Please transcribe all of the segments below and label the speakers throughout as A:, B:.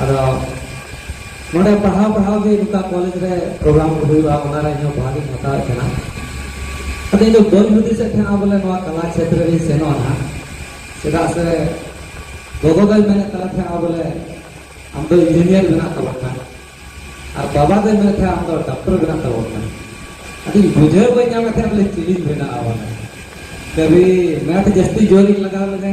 A: ᱟᱫᱚ ᱱᱚᱰᱮ ᱯᱟᱲᱦᱟᱣ ᱯᱟᱲᱦᱟᱣ ᱜᱮ ᱱᱚᱝᱠᱟ ᱠᱚᱞᱮᱡᱽ ᱨᱮ ᱯᱨᱳᱜᱨᱟᱢ ᱠᱚ ᱦᱩᱭᱩᱜᱼᱟ ᱚᱱᱟ ᱨᱮ ᱤᱧᱦᱚᱸ ᱵᱷᱟᱜᱤᱧ ᱦᱟᱛᱟᱣᱮᱫ ᱛᱟᱦᱮᱱᱟ ᱟᱫᱚ ᱤᱧ ᱫᱚ ᱵᱟᱹᱧ ᱦᱩᱫᱤᱥᱮᱫ ᱛᱟᱦᱮᱱᱟ ᱵᱚᱞᱮ ᱱᱚᱣᱟ ᱠᱟᱞᱟ ᱪᱷᱮᱛᱨᱚ ᱨᱤᱧ ᱥᱮᱱᱚᱜᱼᱟ ᱱᱟᱦᱟᱜ ᱪᱮᱫᱟᱜ ᱥᱮ ᱜᱚᱜᱚ ᱫᱚᱭ ᱢᱮᱱᱮᱫ ᱠᱟᱱ ᱛᱟᱦᱮᱱᱟ ᱵᱚᱞᱮ ᱟᱢ ᱫᱚ ᱤᱧᱡᱤᱱᱤᱭᱟᱨ ᱵᱮᱱᱟᱜ ᱛᱟᱵᱚᱱ ᱠᱟᱱ ᱟᱨ ᱵᱟᱵᱟ ᱫᱚᱭ ᱢᱮᱱᱮᱫ ᱛᱟᱦᱮᱱᱟ ᱟᱢ ᱫᱚ ᱰᱟᱠᱛᱚᱨ ᱵᱮᱱᱟᱜ ᱛᱟᱵᱚᱱ ᱠᱟᱱ ᱟᱫᱚ ᱵᱩᱡᱷᱟᱹᱣ ᱵᱟᱹᱧ ᱧᱟᱢᱮᱫ ᱛᱟᱦᱮᱱᱟ ᱵᱚᱞᱮ ᱪᱤᱞᱤᱧ ᱵᱮᱱᱟᱜᱼᱟ ᱵᱚᱞᱮ ᱠᱟᱹᱵᱷᱤ ᱢᱮᱛᱷ ᱡᱟᱹᱥᱛᱤ ᱡᱳᱨᱤᱧ ᱞᱟᱜᱟᱣ ᱞᱮᱫᱟ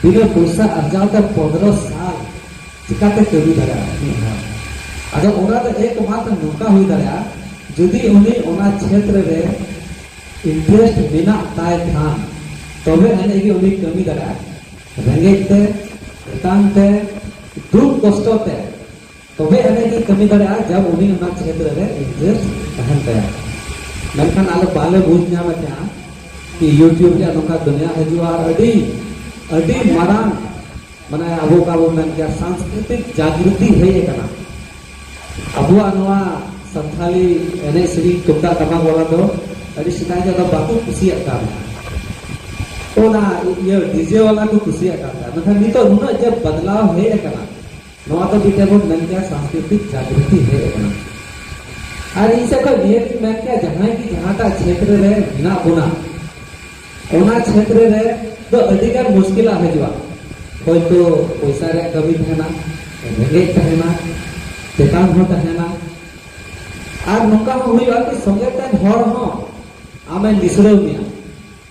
A: ᱛᱤᱱᱟᱹᱜ ᱯᱚᱭᱥᱟ ᱟᱨᱡᱟᱣ ᱛᱮ ᱯᱚᱱᱨᱚ ᱥᱟᱞ ᱪᱤᱠᱟᱛᱮ ᱠᱟᱹᱢᱤ ᱫᱟᱲᱮᱭᱟᱜᱼᱟ ᱢᱤᱫ ᱦᱚᱲ ᱟᱫᱚ ᱚᱱᱟ ᱫᱚ ᱮᱠᱢᱟᱛᱨ ᱱᱚᱝᱠᱟ ᱦᱩᱭ ᱫᱟᱲᱮᱭᱟᱜᱼᱟ ᱡᱩᱫᱤ ᱩᱱᱤ ᱚᱱᱟ ᱪᱷᱮᱛᱨᱚ ᱨᱮ ᱤᱱᱴᱨᱮᱥᱴ ᱢᱮᱱᱟᱜ ᱛᱟᱭ ᱠᱷᱟᱱ ᱛᱚᱵᱮ ᱟᱹᱱᱤᱡ ᱜᱮ ᱩᱱᱤ ᱠᱟᱹᱢᱤ ᱫᱟᱲᱮᱭᱟᱜᱼᱟ ᱨᱮᱸᱜᱮᱡ ᱛᱮ ᱮᱛᱟᱝ ᱛᱮ ᱫᱩᱠ ᱠᱚᱥᱴᱚ ᱛᱮ ᱛᱚᱵᱮ ᱟᱹᱱᱤᱡ ᱜᱮ ᱠᱟᱹᱢᱤ ᱫᱟᱲᱮᱭᱟᱜᱼᱟ ᱡᱟᱵ ᱩᱱᱤ ᱚᱱᱟ ᱠᱷᱮᱛᱨᱮ ᱨᱮ ᱤᱱᱴᱟᱨᱮᱥᱴ ᱛᱟᱦᱮᱱ ᱛᱟᱭᱟ ᱢᱮᱱᱠᱷᱟᱱ ᱟᱞᱮ ᱵᱟᱞᱮ ᱵᱩᱡᱽ ᱧᱟᱢᱮᱫ ᱛᱟᱦᱮᱸᱜᱼᱟ ᱠᱤ ᱤᱭᱩᱴᱤᱭᱩᱵᱽ ᱨᱮᱭᱟᱜ ᱱᱚᱝᱠᱟ ᱫᱩᱱᱤᱭᱟ ᱦᱤᱡᱩᱜᱼᱟ ᱟᱨ ᱟᱹᱰᱤ ᱟᱹᱰᱤ ᱢᱟᱨᱟᱝ ᱢᱟᱱᱮ ᱟᱵᱚ ᱚᱠᱟ ᱵᱚᱱ ᱢᱮᱱ ᱠᱮᱭᱟ ᱥᱟᱝᱥᱠᱨᱤᱛᱤᱠ ᱡᱟᱜᱨᱩᱛᱤ ᱦᱮᱡ ᱟᱠᱟᱱᱟ ᱟᱵᱚᱣᱟᱜ ᱱᱚᱣᱟ ᱥᱟᱱᱛᱟᱞᱤ ᱮᱱᱮᱡ ᱥᱮᱨᱮᱧ ᱛᱩᱢᱫᱟᱜ ᱴᱟᱢᱟᱠ ᱵᱟᱞᱟ ᱫᱚ ᱟᱹᱰᱤ ᱥᱮᱫᱟᱭ ᱫᱚ ᱵᱟᱠᱚ ᱠᱩᱥᱤᱭᱟᱜ ᱠᱟᱱ ᱚᱱᱟ ᱤᱭᱟᱹ ᱰᱤᱡᱮ ᱵᱟᱞᱟ ᱠᱚ ᱠᱩᱥᱤᱭᱟᱜ ᱠᱟᱱ ᱛᱟᱦᱮᱸ ᱢᱮᱱᱠᱷᱟᱱ ᱱᱤᱛᱚᱜ ᱱᱩᱱᱟᱹᱜ ᱡᱮ ᱵᱚᱫᱞᱟᱣ ᱦᱮᱡ ᱟᱠᱟᱱᱟ ᱱᱚᱣᱟ ᱫᱚ ᱢᱤᱫᱴᱮᱱ ᱵᱚᱱ ᱢᱮᱱ ᱠᱮᱭᱟ ᱥᱟᱝᱥᱠᱨᱤᱛᱤᱠ ᱡᱟᱜᱨᱩᱛᱤ ᱦᱮᱡ ᱟᱠᱟᱱᱟ ᱟᱨ ᱤᱧ ᱥᱮᱫ ᱠᱷᱚᱱ ᱱᱤᱭᱟᱹ ᱜᱤᱧ ᱢᱮᱱ ᱠᱮᱭᱟ ᱡᱟᱦᱟᱸᱭ ᱜᱮ ᱡᱟᱦᱟᱸᱴᱟᱜ ᱪᱷᱮᱛᱨᱚ ᱨᱮ ᱢᱮᱱᱟᱜ ᱵᱚᱱᱟ ᱚᱱᱟ ᱪᱷᱮᱛᱨᱚ ᱨᱮ ᱫᱚ ᱟᱹᱰᱤ ᱜᱟᱱ ᱢᱩᱥᱠᱤᱞᱟᱜ ᱦᱤᱡᱩᱜᱼᱟ ᱦᱚᱭᱛᱳ ᱯᱚᱭᱥᱟ ᱨᱮᱭᱟᱜ ᱠᱟᱹᱢᱤ ᱛᱟᱦᱮᱱᱟ ᱨᱮᱸᱜᱮᱡ ᱛᱟᱦᱮᱱᱟ ᱪᱮᱛᱟᱱ ᱦᱚᱸ ᱛᱟᱦᱮᱱᱟ ᱟᱨ ᱱᱚᱝᱠᱟ ᱦᱚᱸ ᱦᱩᱭᱩᱜᱼᱟ ᱠᱤ ᱥᱚᱸᱜᱮ ᱛᱮ ᱦᱚᱲ ᱦᱚᱸ ᱟᱢᱮ ᱱᱤᱥᱲᱟᱹᱣ ᱢᱮᱭᱟ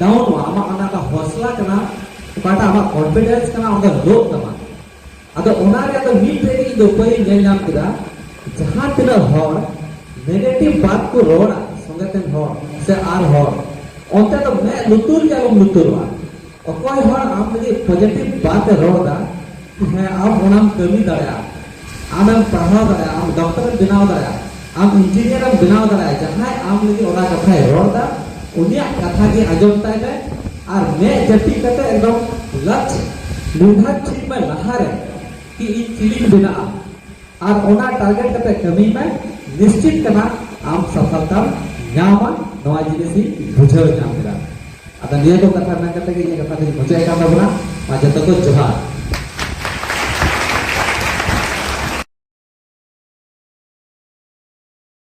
A: ᱰᱟᱣᱩᱱ ᱚᱜᱼᱟ ᱟᱢᱟᱜ ᱚᱱᱟ ᱫᱚ ᱦᱚᱥᱞᱟ ᱠᱟᱱᱟ ᱚᱠᱟᱴᱟᱜ ᱟᱢᱟᱜ ᱠᱚᱱᱯᱷᱤᱰᱮᱱᱥ ᱠᱟᱱᱟ ᱚᱱᱟ ᱫᱚ ᱞᱳᱜ ᱛᱟᱢᱟ ᱟᱫᱚ ᱚᱱᱟ ᱨᱮᱭᱟᱜ ᱫᱚ ᱢᱤᱫᱴᱮᱱ ᱤᱧ ᱫᱚ ᱩᱯᱟᱹᱭ ᱧᱮᱞ ᱧᱟᱢ ᱠᱮᱫᱟ ᱡᱟᱦᱟᱸ ᱛᱤᱱᱟᱹᱜ ᱦᱚᱲ ᱱᱮᱜᱮᱴᱤᱵᱷ ᱵᱟᱛ ᱠᱚ ᱨᱚᱲᱟ ᱥᱚᱸᱜᱮ ᱛᱮᱱ ᱦᱚᱲ ᱥᱮ ᱟᱨ ᱦᱚᱲ ᱚᱱᱛᱮ ᱫᱚ ᱢᱮᱫ ᱞᱩᱛᱩᱨ ᱜᱮ ᱟᱞᱚᱢ ᱞᱩᱛᱩᱨᱚᱜᱼᱟ ᱚᱠᱚᱭ ᱦᱚᱲ ᱟᱢ ᱞᱟᱹᱜᱤᱫ ᱯᱚᱡᱮᱴᱤᱵᱷ ᱵᱟᱛ ᱮ ᱨᱚᱲᱫᱟ ᱦᱮᱸ ᱟᱢ ᱚᱱᱟᱢ ᱠᱟᱹᱢᱤ ᱫᱟᱲᱮᱭᱟᱜᱼᱟ ᱟᱢᱮᱢ ᱯᱟᱲᱦᱟᱣ ᱫᱟᱲᱮᱭᱟᱜᱼᱟ ᱟᱢ ᱰᱚᱠᱴᱚᱨᱮᱢ ᱵᱮᱱᱟᱣ ᱫᱟᱲᱮᱭᱟᱜᱼᱟ ᱟᱢ ᱤᱧᱡᱤᱱᱤᱭᱟᱨᱮᱢ ᱵᱮᱱᱟᱣ ᱫᱟᱲᱮᱭᱟᱜᱼᱟ ᱡᱟᱦᱟᱸᱭ ᱟᱢ ᱞᱟᱹᱜᱤᱫ ᱚᱱᱟ ᱠᱟᱛᱷᱟᱭ ᱨᱚᱲᱫᱟ ᱩᱱᱤᱭᱟᱜ ᱠᱟᱛᱷᱟ ᱜᱮ ᱟᱸᱡᱚᱢ ᱛᱟᱭ ᱢᱮ ᱟᱨ ᱢᱮᱫ ᱡᱟᱹᱯᱤᱫ ᱠᱟᱛᱮ ᱮᱠᱫᱚᱢ ᱞᱟᱪ ᱱᱤᱨᱫᱷᱟᱨ ᱴᱷᱤᱠ ᱢᱮ ᱞᱟᱦᱟᱨᱮ ᱠᱤ ᱤᱧ ᱪᱤᱞᱤᱧ ᱵᱮᱱᱟᱜᱼᱟ ᱟᱨ ᱚᱱᱟ ᱴᱟᱨᱜᱮᱴ ᱠᱟᱛᱮ ᱠᱟᱹᱢᱤ ᱢᱮ ᱱᱤᱥᱪᱤᱛ ᱠᱟᱱᱟ ᱟᱢ ᱥᱟᱯᱷᱟᱞᱛᱟᱢ ᱧᱟᱢᱟ ᱱᱚᱣᱟ ᱡᱤᱱᱤᱥ ᱤᱧ ᱵᱩᱡᱷᱟᱹᱣ ᱧᱟᱢ ᱠᱮᱫᱟ ᱟᱫᱚ ᱱᱤᱭᱟᱹ ᱠᱚ ᱠᱟᱛᱷᱟ ᱢᱮᱱ ᱠᱟᱛᱮ ᱜᱮ ᱤᱧᱟᱹᱜ ᱠᱟᱛᱷᱟ ᱫᱚᱧ ᱢᱩᱪᱟᱹᱫ ᱠᱟᱱ ᱛᱟᱵᱚᱱᱟ ᱟᱨ ᱡᱚᱛᱚ ᱠᱚ ᱡᱚᱦᱟᱨ